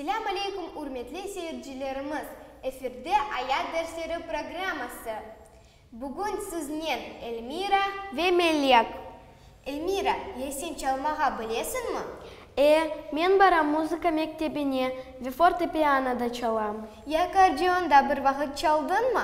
Selâm aleyküm ürmetli seyircilerimiz, efirde Ayat dersleri programması. Bugün siznen Elmira ve Melek. Elmira, ya sen çalmağa bilesiñmi? E, men baram muzıka mektebine ve fortepianoda çalam. Yakardeonda bir vaqıt çaldıñmı?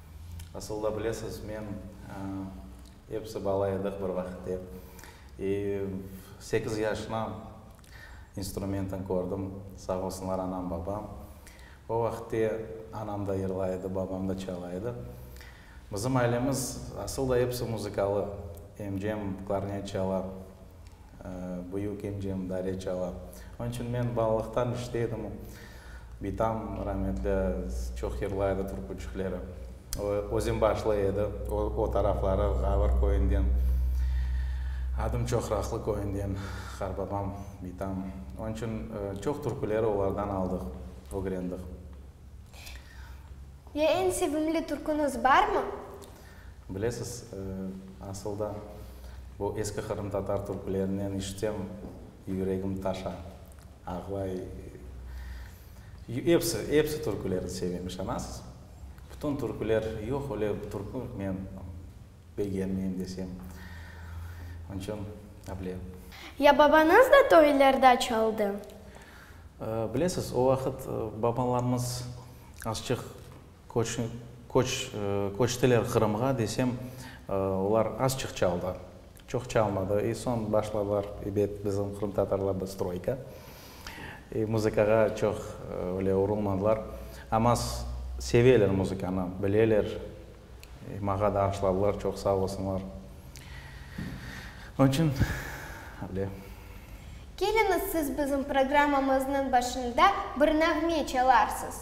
Asılda, bilesiz, men, episi bala edik bir vaqıtte. E, sekiz yaşına instrumentni kördim, sağ olsunlar anam, babam. O vaqıtte anam da yırlay edi, babam da çala edi. Bizim ailemiz, asıl da, episi muzıkalı. Emcem klarnet çala, Büyük incem dare çala. Onıñ içün men balalıqtan işte edim. Bitam rametli çoq yırlaydı türküçükleri. O, özembaşlı edi. O, o tarafları Ğavır köyünden, adım Çoqraqlı köyünden qarbabam bitam. Onıñ içün çoq türküleri olardan aldıq, ögrendik. Ya eñ sevimli türküñiz barmı? Bilesiz, asıl da, bu eski qırımtatar türklerinen işitsem, yüregim taşa, ağlay. Episi, episi türkülerni sevem, işanasız. Bütün türküler, yoq öyle bir türkü, men begenmeyim desem. Onıñ içün, ablem. Ya babañız da toylerde çaldı? Bilesiz, o vaqıt babalarımız azçıq. Köç, köçtiler Qırımğa, desem, olar azçıq çaldı, çoq çalmadı. E, soñ başladılar, ebet, bizim qırımtatarlarda stroyka. E, muzıkağa çoq öyle urulmadılar. Amma seveler muzıkanı, bileler, maña da aşladılar, çoq sağ olsunlar. Onıñ içün öyle. Keliñiz, siz bizim programmamıznıñ başında bir nağme çalarsız.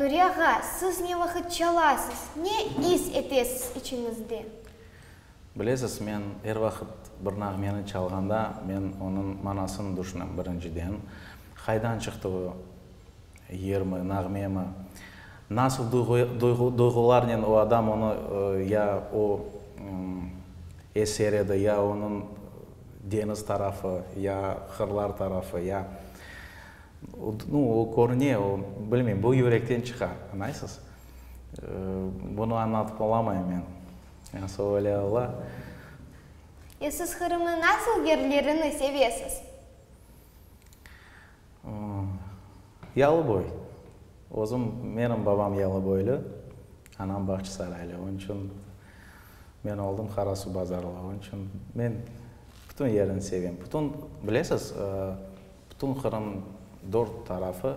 Nuriye ağa, siz ne vaqıt çalasız, ne is etesiz içiñizde? Bilesiz, men er vaqıt bir nağmeni çalğanda, men onıñ manasını tüşünem, birinciden, qaydan çıqtığı, Yermi, nağmemi? Nasıl duyğularnen o adam onı ya o eser edi, ya onıñ deñiz tarafı, ya qırlar tarafı, ya nu, o körüne, o, bilmeyim, bu yürekten çıqa, añaysız? Bunı añlatıp olamayım men. Yani söyle ola. E siz Qırımnıñ nasıl yerlerini sevesiz? Yalıboy. Özüm, menim babam yalıboylı, anam Bağçısaraylı. Onıñ içün men oldım Qarasuvbazarlı. Onıñ içün men bütün yerini sevem. Bütün, bilesiz, bütün Qırım dört tarafı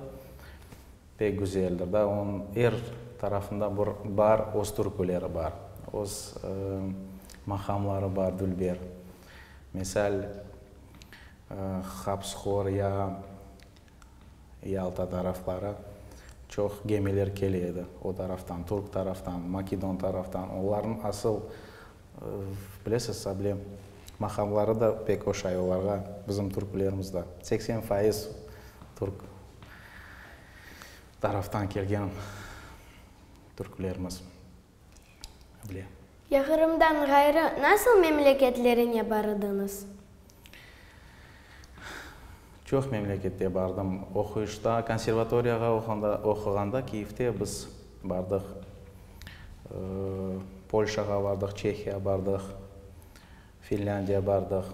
pek güzeldir da. Onıñ er tarafında bir bar, öz türküleri bar, öz maqamları bar, dülber. Misal. Habsxor ya Yalta tarafları çoq gemiler kele edi, o taraftan, türk taraftan, makedon taraftan. Onlarnıñ asıl, bilesiz, sable maqamları da pek oşay olarğa, bizim türklerimiz da. Seksen faiz türk taraftan kelgen türklerimiz. bile. Ya Qırımdan ğayrı nasıl memleketlerine barıdıñız? Çoq memlekette bardım. Oquyışta, konservatoriyağa oquğanda Kiyevde biz bardıq. Polşağa bardıq, Çehiya bardıq. Finlândiya bardıq.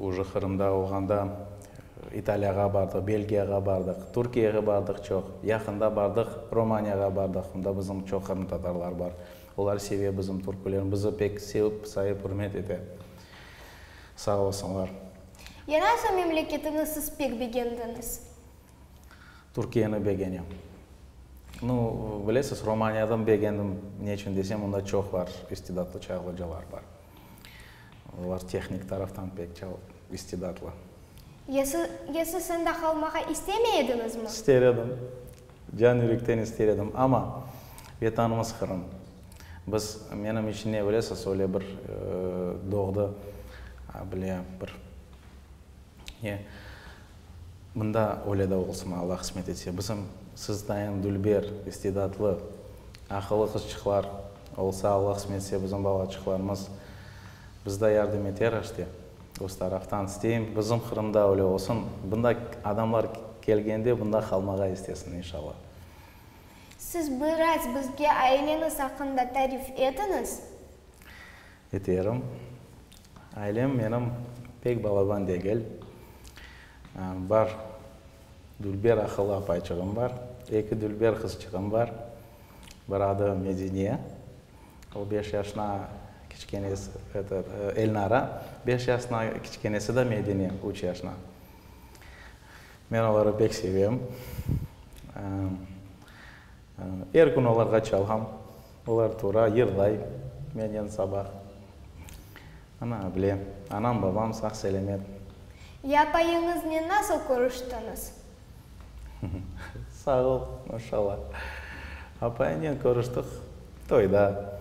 Uje Qırımda olğanda İtaliyağa bardıq, Belgiyağa bardıq, Türkiyege bardıq çoq. Yaqında bardıq, Romaniyağa bardıq. Onda bizim çoq qırımtatarlar bar. Olar seve bizim türkülerni, bizi pek sevip, sayıp, ürmet ete. Sağ olsunlar. Yarasa memleketiñi siz pek begendiñiz. Türkiyeni begenem. Nu, bilesiz, Romaniyadan begendim. Ne içün desem, onda çoq bar, istidatlı çağ ocalar bar. Olar tehnik taraftan pek çal istidatlı. Ya siz, ya siz onda qalmağa istemey ediñizmi? İster edim. Can yürekten ister edim. Amma Vetanımız Qırım. Biz, menim içün ne bilesiz, öyle bir doğdı, bile bir, ne, Mında öyle de olsın, Alla qısmet etse, bizim siz tayın dülber, istidatlı, aqıllı qızçıqlar olsa, Alla qısmet etse, bizim balaçıqlarımız bizde yardım eter aşte, öz taraftan isteyim, bizim Qırımda öyle olsın, bunda adamlar kelgende bunda qalmağa istesin, inşalla. Siz biraz bizge aileñiz aqqında tarif etiñiz. Eterim. Ailem menim pek balaban degil. Bar dülber aqıllı apayçığım bar, eki dülber qızçığım bar. Bir adı Medine, o beş yaşına kiçkenesi, eto, Elnara, beş yaşına, kiçkenesi de Medine, üç yaşına. Men oları pek sevem. Er kün olarğa çalam. Olar tura, yırlay menen sabah. Ana, bile, anam, babam sağ-selemet. Yapayıñıznen nasıl körüştiñiz? Sağ ol, maşallah. Apayıñnen körüştik toyda.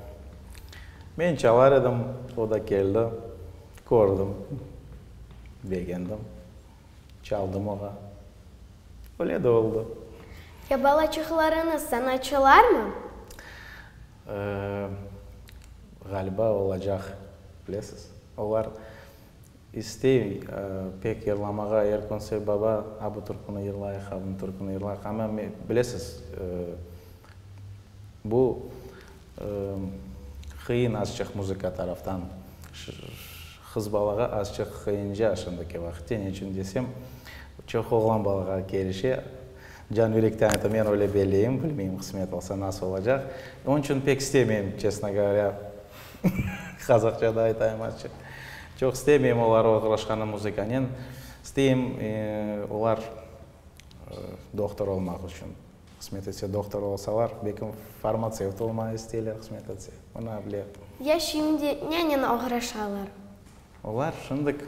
Men çalar edim, o da keldi. Kördim, begendim. Çaldım oğa. Öyle de oldı. Ya balaçıqlarıñız sanatçılarmı? Ğaliba olacaq, bilesiz. Olar istey pek yırlamağa, er kün sev baba, a bu türküni yırlayıq, a bunı türküni yırlayıq. Amma bilesiz, bu Qıyın azçıq muzıka taraftan. Qız balağa azçıq qıyınca şimdiki vaqıtte, ne içün desem, çoq oğlan balağa kelişe. Can yürekten aytam, men öyle belleyim, bilmeyim, qısmet olsa nasıl olacaq. Onıñ içün pek istemeyim, çestno govorâ, qazaqça da aytayım azçıq. Çoq istemeyim olar oğraşqanı muzıkanen. İsteyim olar doktor olmaq içün. Hısmet etse doktor olsalar, belkim farmatsevt olmaq isteyler hısmet etse, bu ne bile. Ya şimdi nenen oğraşalar? Olar şimdik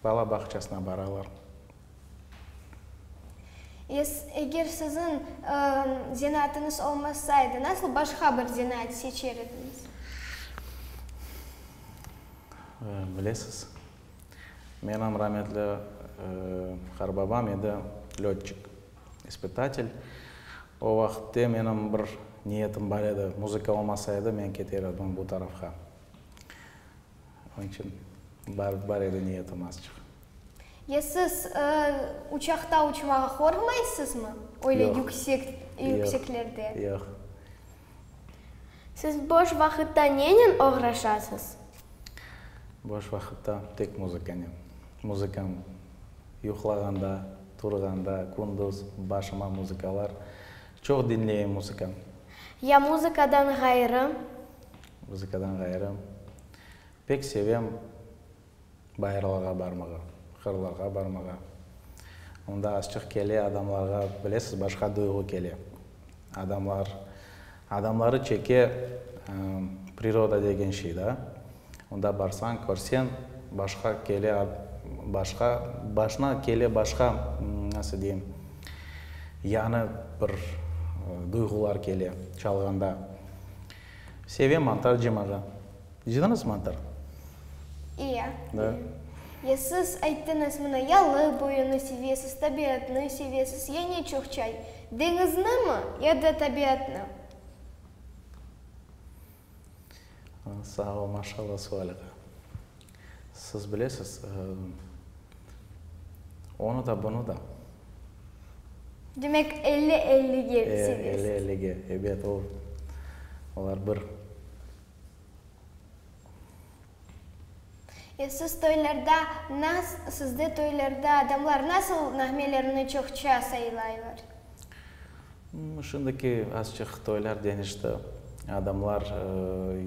bala bağçasına baralar. Es, eger siziñ zenaatınız olmasaydı, nasıl başqa bir zenaat seçer ediñiz? Bilesiz, Menim rametli qarbabam edi lötçik, ispitatel. O vaqıtte menim bir niyetim bar edi, muzıka olmasa edi, men keter edim bu tarafqa. Onıñ içün bar edi niyetim azçıq. Ya siz uçaqta uçmağa qorqmaysızmı, öyle yükseklerde? Yoq, yoq. Siz boş vaqıtta nenen oğraşasız? Boş vaqıtta tek muzıkanen. Muzıkam yuqlağanda, turğanda, kündüz başıma muzıkalar. Çoq diñleyim muzıka. Ya muzıkadan ğayrı? Muzıkadan ğayrı pek sevem. Bayırlarğa barmağa, qırlarğa barmağa. Onda azçıq kele adamlarğa, bilesiz, başqa duyğu kele. Adamlar, adamları çeke priroda degen şey da. Onda barsañ, körseñ, başqa kele, başqa, başına kele başqa, nasıl deyim, yañı bir duyğular kele, çalğanda. Sevem mantar cımağa. Cıdınız mıdır? İye. Da. Ya siz ayttıñız mına, yalı boyunı sevesiz, tabiatnı sevesiz, ya ne çoq çay, deñiznimi ya da tabiatnı? Sağ ol, maşallah, sualiğa. Siz bilesiz, onı da, bunı da. Demek, elli-ellige sevesiz? Elli-ellige, ebet, olar bir. E, siz toylarda nas, sizde toylarda adamlar nasıl nağmelerini çoqça saylaylar? M, şimdiki azçıq toylar deñişti. Adamlar,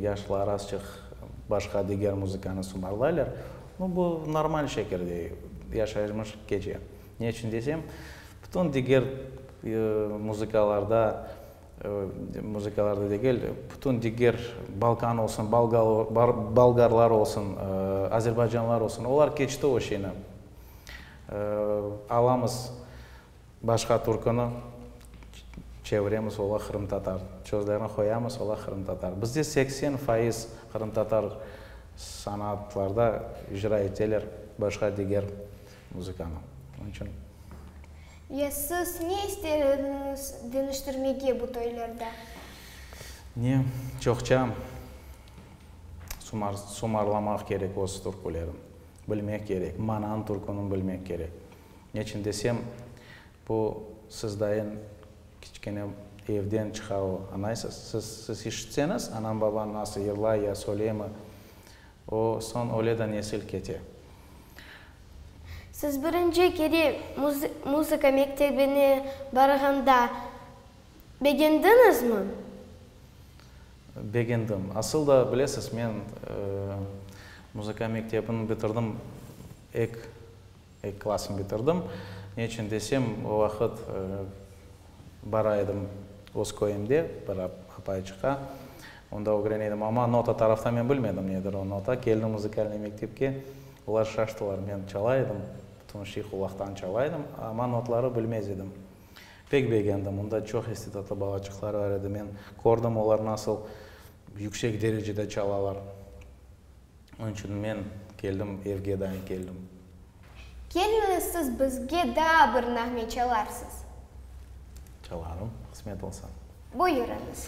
yaşlar azçıq başqa diger muzıkanı sumarlaylar. No, bu normal şekilde yaşayırmış keçe. Ne içün desem, bütün diger muzıkalarda. Muzıkalarda degil, bütün diger Balkan olsun, Bolgarlar olsun, Azerbaycanlar olsun, olar keçti o şeyni. Alamız başqa türküni, çeviremiz, ola qırımtatar. Sözlerini qoyamız, ola qırımtatar. Bizde seksen faiz qırımtatar sanatlarda icra eteler, başqa diger. Muzıkanı. Onıñ içün. Ya siz ne ister ediñiz deñiştirmege bu toylarda? Ne, çoqça sumar, sumarlamaq kerek öz türkülerin, bilmek kerek, mananı türkünün bilmek kerek. Neçün desem, bu siz dayın kiçkene evden çıqavu, añaysız? Siz, siz işitseñiz, anañ-babañ nasıl yırlay ya söyleymi, O soñ öle da nesil kete. Siz birinci kere muzıka mektebine barğanda begendiñizmi? Begendim. Asıl da, bilesiz, men muzıka mektebini bitirdim ek. Eki klassnı bitirdim. Ne içün desem, o vaqıt bara edim öz köyümde, bir apayçıqqa. Onda ögren edim. Amma nota taraftan men bilmedim nedir o nota. Keldim muzikalnıy mektepke, olar şaştılar. Men çala edim, bütün şey qulaqtan çala edim, amma notları bilmez edim. Pek begendim. Onda çoq istedadlı balaçıqlar bar edi. Men kördim, olar nasıl yüksek derecede çalalar. Onıñ içün men keldim, evge daim keldim. Kelmeniz siz bizge daa bir nağme çalarsız? Çalarım, qısmet olsa. Buyurıñız.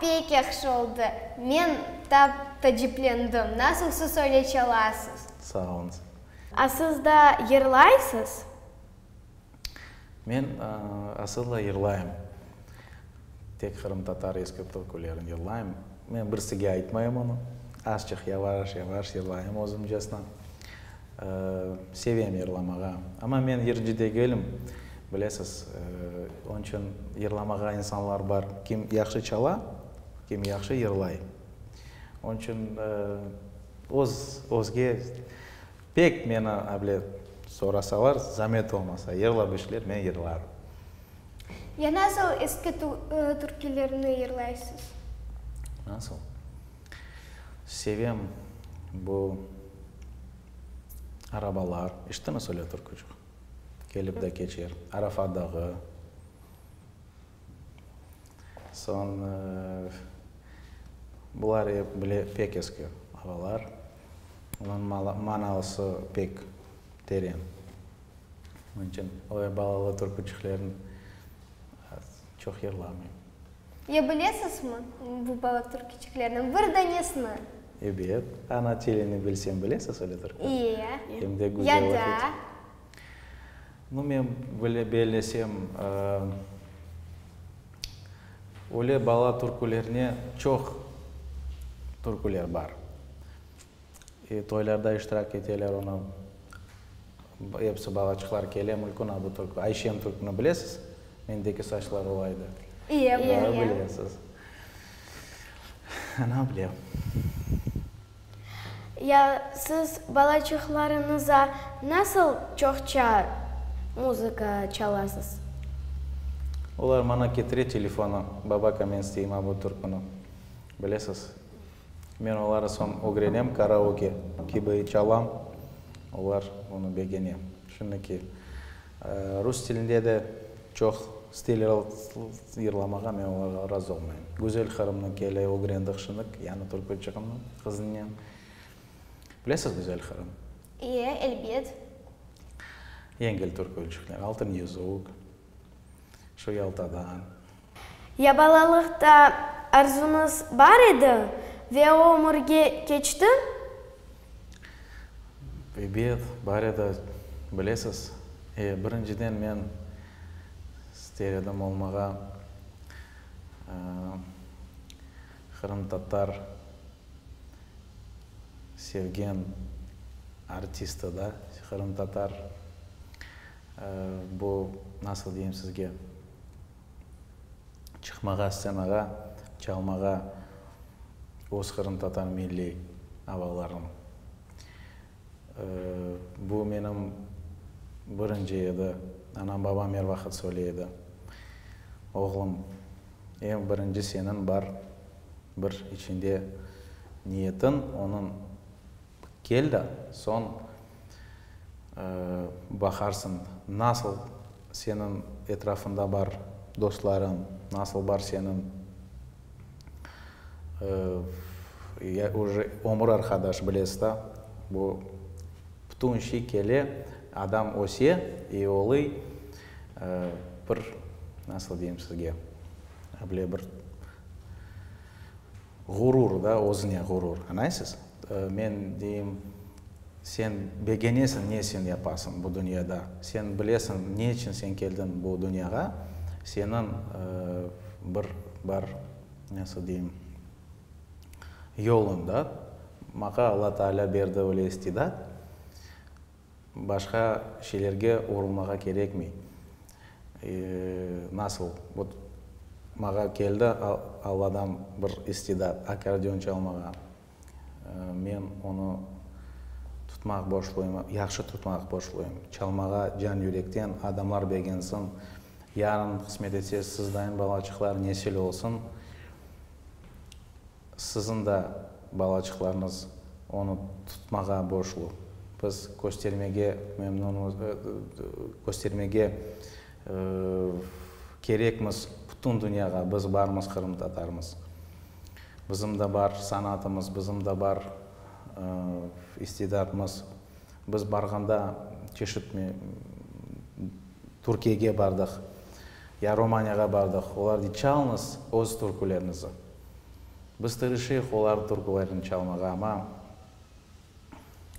Pek yahşı oldı. Men tap taciplendim. Nasıl siz öyle çalasız? Sağ olunız. A siz da yırlaysız? Men asılı yırlayım. Tek qırımtatar eski türkülerin yırlayım. Men birsige aytmayım onı. Azçıq yavaş yavaş yırlayım özümcesine. Sevem yırlamağa. Amma men yırcı degilim. Bilesiz, onıñ içün yırlamağa insanlar bar, kim yahşı çala, kim yahşı yırlay. Onıñ içün öz, özge Pek meni able sorasalar, zamet olmasa, yırlap işler, men yırlarım. Ya nasıl eski türkülerni yırlaysız? Nasıl? Sevem bu arabalar, eşittimiz öyle türkücük? Kelip de keçer, Arafa dağı. Soñ bular ep bile pek eski arabalar. Onıñ manausı pek teren. Onıñ içün öyle balalı türküçüklerni çoq yırlamayım. Ya bilesizmi bu balalı türküçüklerden bir danesini? Ebet, ana tilini bilsem bilesiz öyle türkü? İye. Hem de güzel oquy. Ya da. Nu, men bile bellesem. Öyle bala türkülerine çoq türküler bar. E, toylarda iştirak eteler onı. Episi balaçıqlar kele, Mülkün adı türkü. Ayşem türkünü bilesiz? Mendeki saçlar olaydı. İye, bilem. Bilesiz. Ana, bilem. Ya siz balaçıqlarıñıza nasıl çoqça muzıka çalasız? Olar maña ketire telefonı, Baba, Kamenskıy ima bu türküni bilesiz? Men oları soñ ögrenem, karaoke kibi çalam, olar onı begene. Şimdi ki, Rus tilinde de çoq stiller yırlamağa men olarğa razı olmayım. Güzel Qırımnıñ kele ögrendik şınık, yani türkü çıqımnıñ qızınen. Bilesiz Güzel Qırım? İe, elbet. Yengil türkü çıqnıñ Altın yüzük, Şu Yaltadan. Ya balalıqta arzuñız bar edi ve o ömürge keçti? Ebet, bar edi. Bilesiz, e, birinciden men ister edim olmağa qırımtatar sevgen artisti da, qırımtatar, bu, nasıl deyim sizge, çıqmağa, stsenağa çalmağa öz qırımtatar milliy avalarım. Bu menim birinci edi. Anam-babam er vaqıt söyley edi, Oğlum, eñ birinci seniñ bar bir içinde niyetiñ, onıñ. Kel da, soñ baqarsıñ, nasıl seniñ etrafında bar dostlarıñ, nasıl bar seniñ ya oje ömür arqadaş, bilesiz da, bu bütün şey kele, adam öse i olui bir, nasıl deyim sizge, böyle bir Ğurur da, özüne ğurur. Añlaysız? Men deyim, sen begenesiñ, ne sen yapasıñ bu dünyada, sen bilesiñ, ne içün sen keldiñ bu dünyağa, seniñ bir bar, nasıl deyim, yoluñ bar. Maña Alla Taalâ berdi öyle istidat. Başqa şeylerge oğrulmağa kerekmey. Nasıl? Vot, mağa keldi Alladan bir istidat, akkordeon çalmağa. Men onı tutmaq borçluyım, yahşı tutmaq borçluyım. Çalmağa can-yürekten, adamlar begensin. Yarın qısmet etse, sizdayın balaçıqlar nesil olsun. Siziñ da balaçıqlarıñız onı tutmağa borçlu. Biz köstermege memnunmız, köstermege kerekmiz bütün dünyağa, biz barmız, qırımtatarmız. Bizim da bar sanatımız, bizim da bar istidatmız. Biz barğanda çeşit Türkiyege bardıq, ya Romaniyağa bardıq, olar çalıñız öz türkülerinizi. Biz tırışıyıq olar türkülerin çalmağa, amma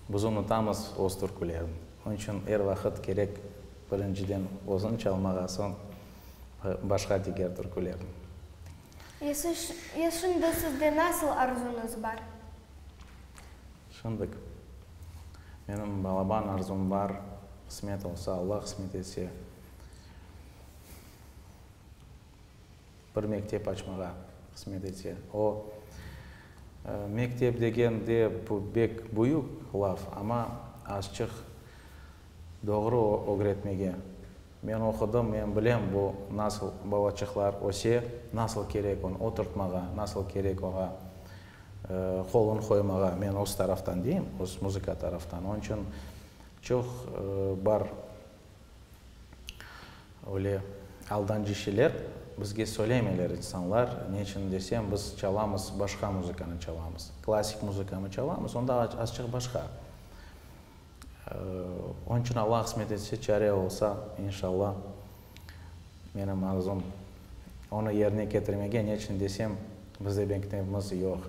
biz unutamız öz türkülerin. Onıñ içün er vaqıt kerek birinciden özün çalmağa, soñ başqa diger türkülerin. Ya şimdi sizde nasıl arzuñız bar? Şimdik menim balaban arzum bar, qısmet olsa, Allah qısmet etse. bir mektep açmağa hısmet ete. O, Mektep degen de bu bek büyük laf, amma azçıq doğru ögretmege. Men oqudım, men bilem bu nasıl balaçıqlar öse, nasıl kerek on oturtmağa, nasıl kerek oña qolun qoymağa, men öz taraftan deyim, öz muzıka taraftan. Onıñ içün çoq bar. Öyle aldancişiler bizge söylemeler insanlar, ne içün desem, biz çalamız, başqa muzıkanı çalamız. Klassik muzıkanı çalamız, onda azçıq başqa. Onıñ içün Alla qısmet etse, çare olsa, inşalla, menim arzum, onı yerine ketirmege, ne içün desem, bizde mektebimiz yoq.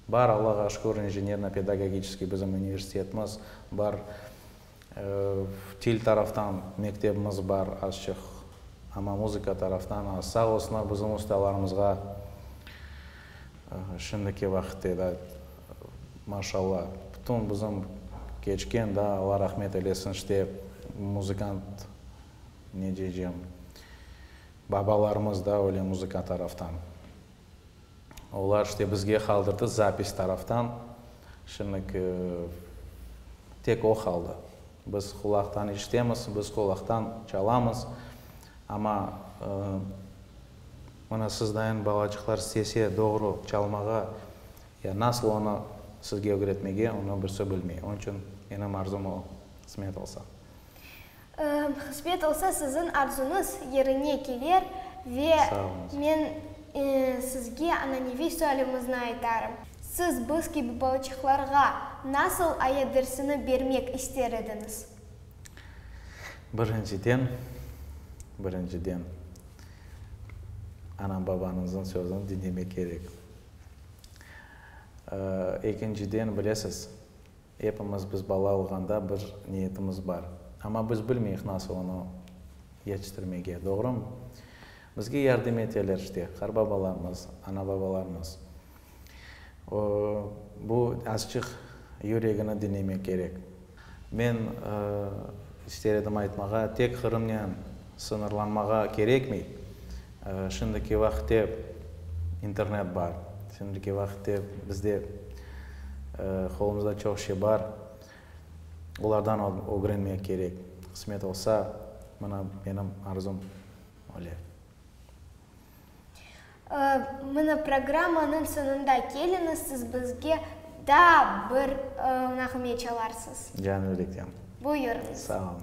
Bar, Allağa şükür, inženerno-pedagogiçeskiy bizim universitetimiz bar. Til taraftan mektebimiz bar azçıq, amma muzıka taraftan az. Sağ olsunlar, bizim ustalarımızğa şimdiki vaqitte da, maşallah, bütün bizim keçken da, Alla rahmet eylesin, işte muzıkant, ne deycem, babalarımız da öyle muzıka taraftan. Olar işte bizge qaldırdı zapis taraftan. Şimdilik tek o qaldı. Biz qulaqtan işitemiz, biz qulaqtan çalamız. Amma mına sizdayin balacıqlar istese doğru çalmağa ya nasıl onı sizge ögretmege, onı birisi bilmey. Onıñ içün menim arzum o, qısmet olsa. Qısmet olsa, siziñ arzuñız yerine keler ve men sizge ananeviy sualimizni aytarım, siz biz kibi balaçıqlarğa nasıl ayat dersini bermek ister ediñiz? Birinciden, birinciden, anam-babañızıñ sözüni diñlemek kerek. Ekinciden, bilesiz, Epimiz biz bala olğanda bir niyetimiz bar, amma biz bilmeyik nasıl onı yetiştirmege, doğrumı? Bizge yardım eteler işte, qarbabalarımız, anababalarımız. O, bu azçıq yüregini diñlemek kerek. Men ister edim aytmağa, tek Qırımnen sıñırlanmağa kerekmey. Şimdiki vaqıtte internet bar, şimdiki vaqıtte bizde qolumızda çoq şey bar, olardan ögrenmek kerek. Qısmet olsa, mına menim arzum öyle. Mına programmanıñ soñunda keliñiz, siz bizge daa bir nağme çalarsız. Canı yürekten. Buyurıñız. Sağ olun.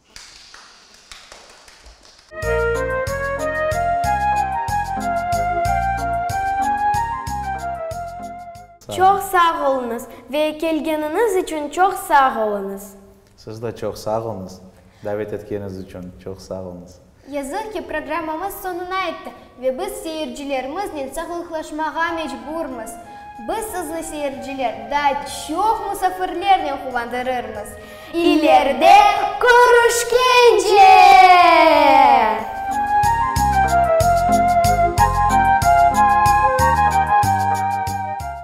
Çoq sağ oluñız ve kelgeniñiz içün çoq sağ oluñız. Siz de çoq sağ oluñız, davet etkeniz içün çoq sağ oluñız. Yazıq ki, programmamız soñuna yetti ve biz seyircilerimiznen sağlıqlaşmağa mecburmız. Biz sizni, seyirciler, daa çoq musafirlernen quvandırırmız. İleride körüşkence!